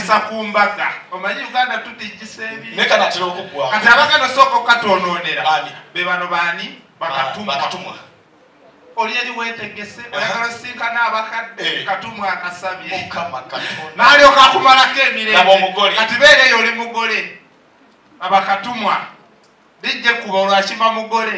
omukazi ku mbaga omanyi uganda tutijisa ebi naye kanatera okugwa kati abaganda osooka okukatwonoonera be bano baani bakatumwa oli eri wetegese oyagala osinkana abakadde eh. katumwa akasabye nalyoka akumalako emirembeati beera eyo oli mugole abakatumwa bijje kuba olwakima mugole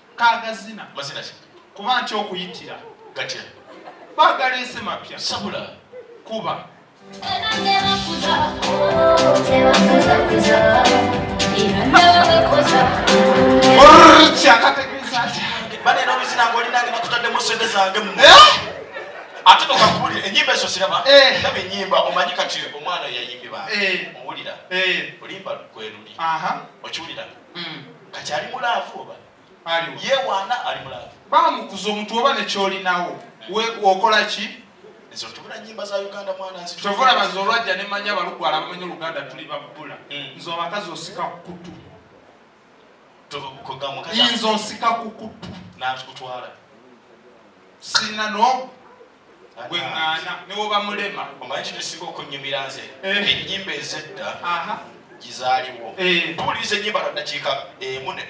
kagazina mazina ki kuba nti okuyitira gatya bagala ensi mapya sabula kuba ate nokakuwulira enyimba ezo siraba eh. laba enyimba omanyi kati omwana yayimbibaa eh. owulira eh. olimba gweruli okiwulira hmm. kati ali mulaavu oba yewaana ali mulaavu bamukuza omuntu oba nekyolinawo okola ki ezo tubula nyimba za uganda mwana nsi tovula bazo olwajja ne manya balugwala bamanya oluganda tuli babula mm. nze abakazi osika kukutu nze osika kukutu nakutwala sina no gweŋŋaana ne woba mulema omanyi kino esinga okunnyumira nze eh. ennyimba ezedda gizaaliwo eh. tuwuliriza ennyimba lwaddakiika emu eh,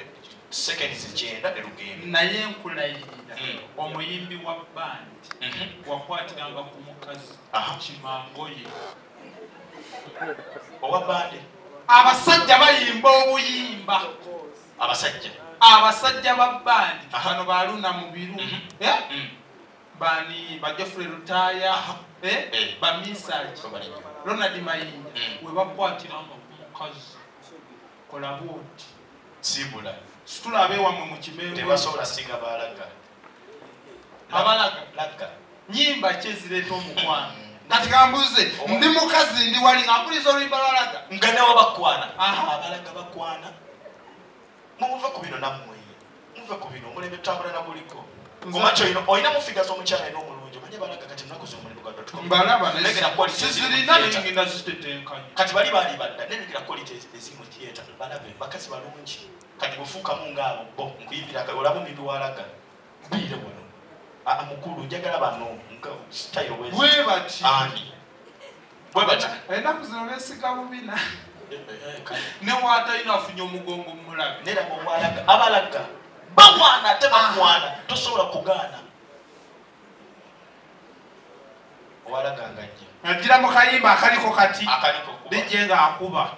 sekendi zikyenda ne lugendo naye nkulayirira hmm. omuyimbi wa bandi mhm. wakwatiranga ku mukazi kimangoye owa bandi abasajja bayimba obuyimba abasajja abasajja ba bandi bano baluna mubiru mhm. eh? mm. bani ba Geoffrey Lutaya eh, eh. ba Misaji Ronald Mayinja mm. webakwatira omukazi kola bwoti sibula situla abewamu mu kimengo tebasobola singa balaga abalaga laga nyimba ki ezireeta omukwano mm. kati kambuze oh. ndi mukazi ndi wali ngampuliriza oluyimba lwalaga nga nawe bakwana abalaga bakwana mubuve ku bino nammwe muve ku bino omulembe tutambula na guliko omakyo ino olina mufiga z'omukyala ina omulungi omanye balaga kati nnaku z'omulembe gwa kati bali baali badda nenegera quality eziri mu theatre balabe bakazi balungi kati bufuukamu ngaabo bo nkuyimbira olaba omuntu walaga Bwire wano. Ah, ah mukulu njagala bano nka style we. Bwe bati. Ani. Bwe bati. Enda kuzino besika mubina. Eh, eh, eh, ne wata ino afunyo mugongo mulaga. Nera ko walaga abalaga. Ba wana te ba wana ah. tosobola kugana. Walaga ngaje. Najira mukayimba akaliko kati. Akaliko. Bije nga akuba.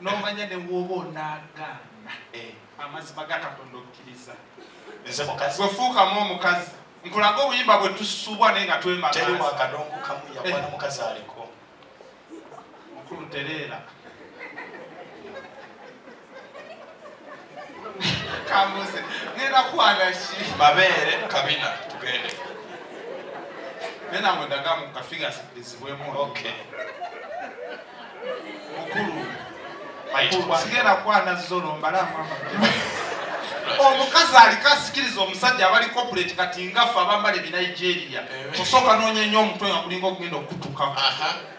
nomanya ne bwoba onagaana eh. amazima ga katonda okkiriza wefuukamu omukazi nkulaga obuyimba bwe tusubwa naye nga twemagaakadongo kamu yakwana eh. mukazi aliko mukulu tereera kambuze ngenda kwana ki mabeere kabina tugende nenange ndagamu kafiga zibwemu okay mukulu sigenda kwana zolo mbalama omukazi aliko asikiriza omusajja abali corporate kati ngafe abambala ebinigeria eh. osooka nonya nnyo omutwe nga mulinga okugenda okutuka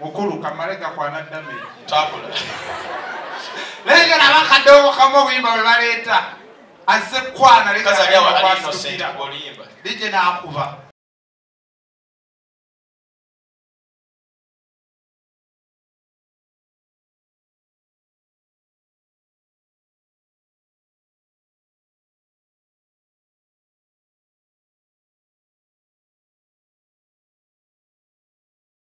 Mukulu kamale gakwana dame. Tabula. Naye nga naba kadogo kamu obuyimba bwe baleeta azze kwana leka DJ n'akuba.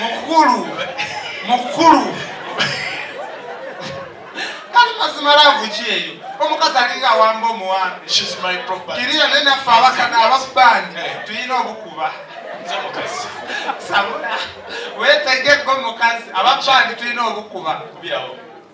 mukulu mukulu kali mazima laavu ki eyo omukazi alinga awamba omuwambe kiriya naye naffe abakana abasubandi eh. tulina obukuba sabula wetegeko mukazi ababandi tulina obukuba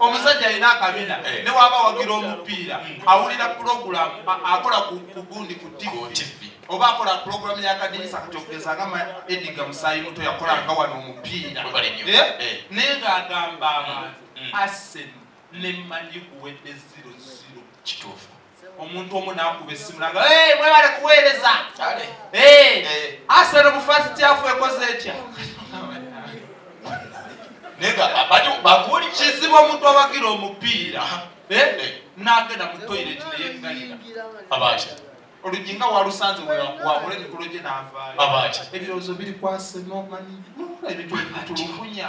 omusajja alina akabina eh. newaba wagira omupiira hmm. awulira pulogulamu akola kugundi ku tv oba akola pulogulamu yakadinisa kati okugeza nga ediga musaayi muto yakolanga wano omupiira eh? eh. naye ngaagamba abantu hmm. asen nemanyi kuwedde ziro ziro kituufu omuntu omu nakuba esimu naga hey, mwebale kuweereza hey, eh. asero mufaasi kyafu ekoze ekya baguli kizibu omuntu abagira omupiira eh? eh. nagenda mu toilet neyegalira abasha olujinga walusanze wabula emikolo gye navaayo ebirowoozo biri kwase nomanyi ebintu bitulugunya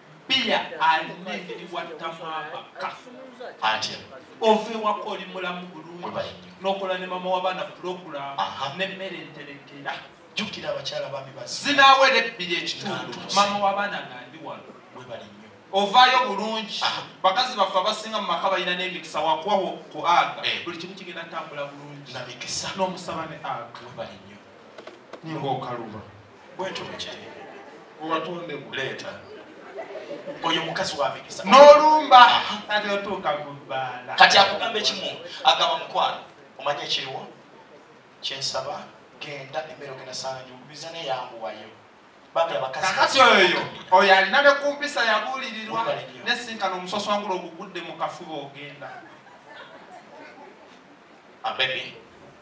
bia alina engeri wattamu amaka atya ova ewaka oli mulamu bulungi nokola ne mama wabaana pulogulamu nemmere enterekera jukira abakyala bami ba zinawera ebbiri ekitundu mama wabaana nga ndi wano webali nyo ovaayo bulungi bakazi baffe abasinga mu maka balina n'emikisa wakuwawo ku aga eh. buli kimu kigenda ntambula bulungi namikisa n'omusaba ne aga webali nyo ninga okaluba bwetuki owatonde kuleeta oyo mukazi wamikisa nolumba kati otuuka kubaala kati akugamba ekimu agamba mukwano omanya ekiriwo kyensaba genda emmere ogenda sanga njukubiza naye yanguwayo kakati oyo oyo alina ne ku mpisa yabuulirirwa nesinkana omusoswangula ogugudde mu kafuba ogenda abebi ah,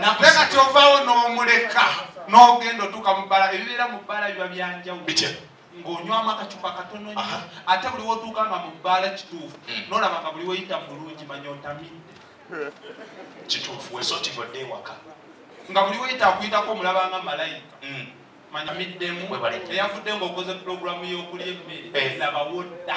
nakati ovaawo n'omuleka n'ogenda otuuka mu bbala ebibeera mu bbala biba byanjawulo ng'onywamu akacupa katono nyo ate buli wotuuka nga mu bbaala kituufu hmm. nolaba nga buli weyita mulungi manya otamidde kituufu wesotigodde ewaka nga buli weyita akuyitako omulabanga malayika hmm. manya middemu eyavudde ng'okoze pulogulamu y'okulya emmere eh. laba wodda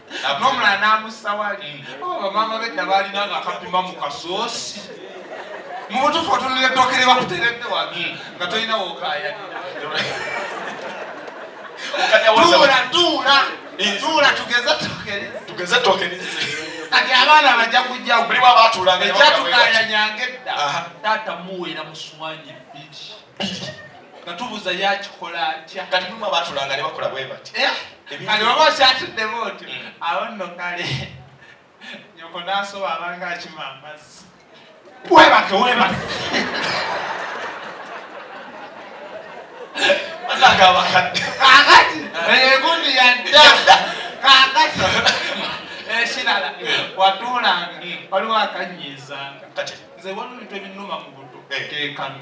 nomulala n'amussa wali mm. oh, bamaama bedda baalina nga akapima mu kasoosi mu butuufu otunula eddooka eri bakuteredde wano mm. nga tolina wokayaniratuula tuula tugeze tugeze tokenise kati abaana bajja kujjawo buli bwabatuulanga ekyatukayanyanga edda taata muweera muswanyi bbiri nga tubuuza yakikola atya kati mulimu abatulanga ne bakola bwe bati eh? kati oba okyatuddemu otyo mm. awo nno kale nyoko nasoba abanga akima amazzi webake webake atanga abakadde kakati egundi yadda kakati ekirala watuulanga waliwo akanyiizanga nze waliwo ebintu ebinuma mu buto eh. kekano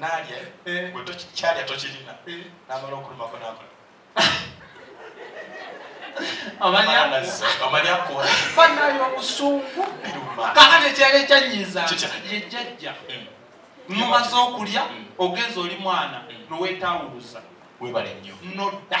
nalya eh? eh. gwe kyalya tokirina eh. namala okulumako nakola banayo obusungu kakati ekyalo ekyanyiza yejjajja hmm. mumaze okulya hmm. ogenza oli mwana hmm. nowetawuluza webale nnyo nodda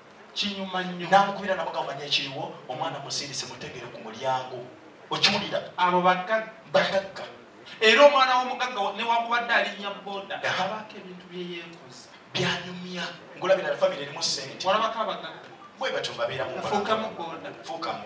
kinyuma nnyo namukubira namugamanya ekiriwo omwana musindise mutegere ku mulyango okiwulira abo bagagga era omwana w'omugagga newakubadde alinya boda abaako ebintu byeyekoza byanyumya ngolabira famire erimu sente olabako abagagga bwe batyo babeeramufuukamu boda fuukamu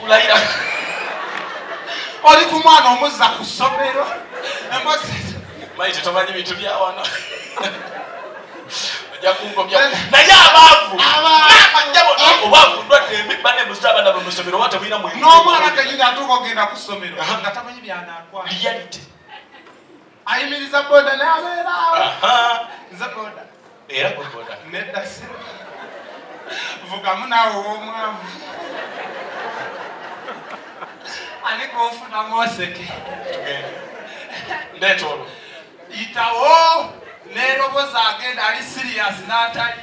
kulayira oli ku mwana omuzza ku ssomero maite tomanyi bintu byawano ojja kungomya naye abaavu obwavu ndwadde embi bane muza abana bwe musomero oba temulina mwe n'omwana kenyini atuuka ogenda ku ssomero nga tamanyi byanakwaa reality ayimiriza boda nabeera nze boda era boda nedda si vugamu naawe ow'omwavu ani gwofunamu oseke ndeeta olwo yitawo neeroboza agenda ali siriyasi n'atali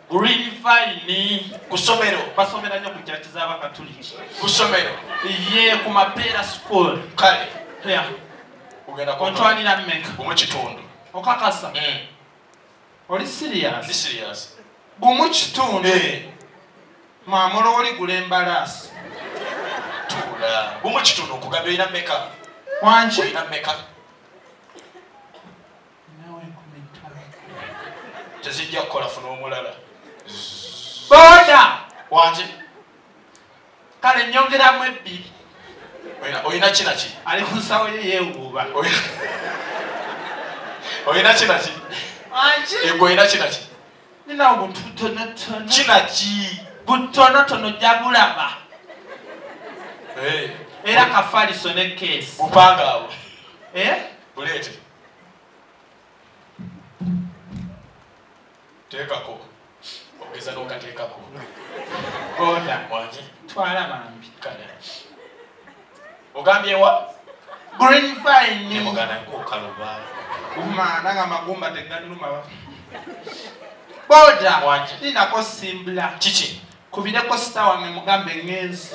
Green Vine ku somero basomera nnyo ku kyaki z'abakatuliki ku somero ye ku mapeera school kale yeah. ogenda kontwalira mmeka omu kitundu okakasa mm. oli serious ndi serious gumu kitundu eh. mamula oli gula embalaasi tuula gumu kitundu okugamba olina mmeka wangi olina mmeka tezijja kukola funa omulala boda waki kale nyongeramu ebbiri olina kinaki ali ku nsawo ye yewuuba olina kinaki egwe olina kinaki nina obuntu butonotono kinaki butonotono ojja bulaba era kafaliso ne keesi bupanga abo eh? buleete teekako ogeza n'okateekako goda wangi twala bambi kale ogambyewa green fine mugana kukaluba uma nanga magumba teganuma boda ninako simbula kiki kubireko sita wange mugambe ngenzi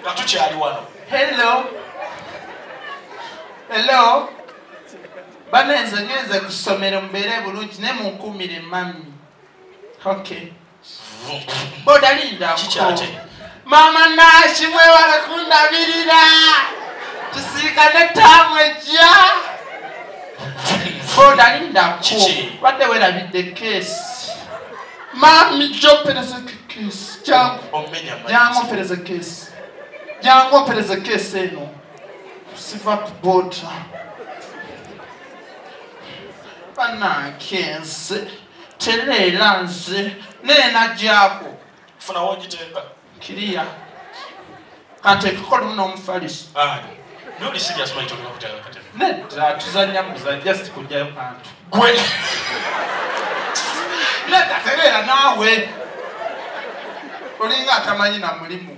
nga tukyali wano hello hello banenze ngenze ku ssomero mubeere bulungi ne munkuumire mami okay bodalinda maama naaki mwewala kundabirira tusiikane taamu ejja odalindaku badde werabidde keesi maami jopereze keesi jangu jangu opereze keesi jangu opereze keesi eno siva ku boda banankenze tereera nze neenagyako funa wogiteeka kiriya kati ekikolemu n'omufalisi nedda tuzanya muza just kujjayo kantu gwe nedda tereera naawe olinga atamanyi na mulimu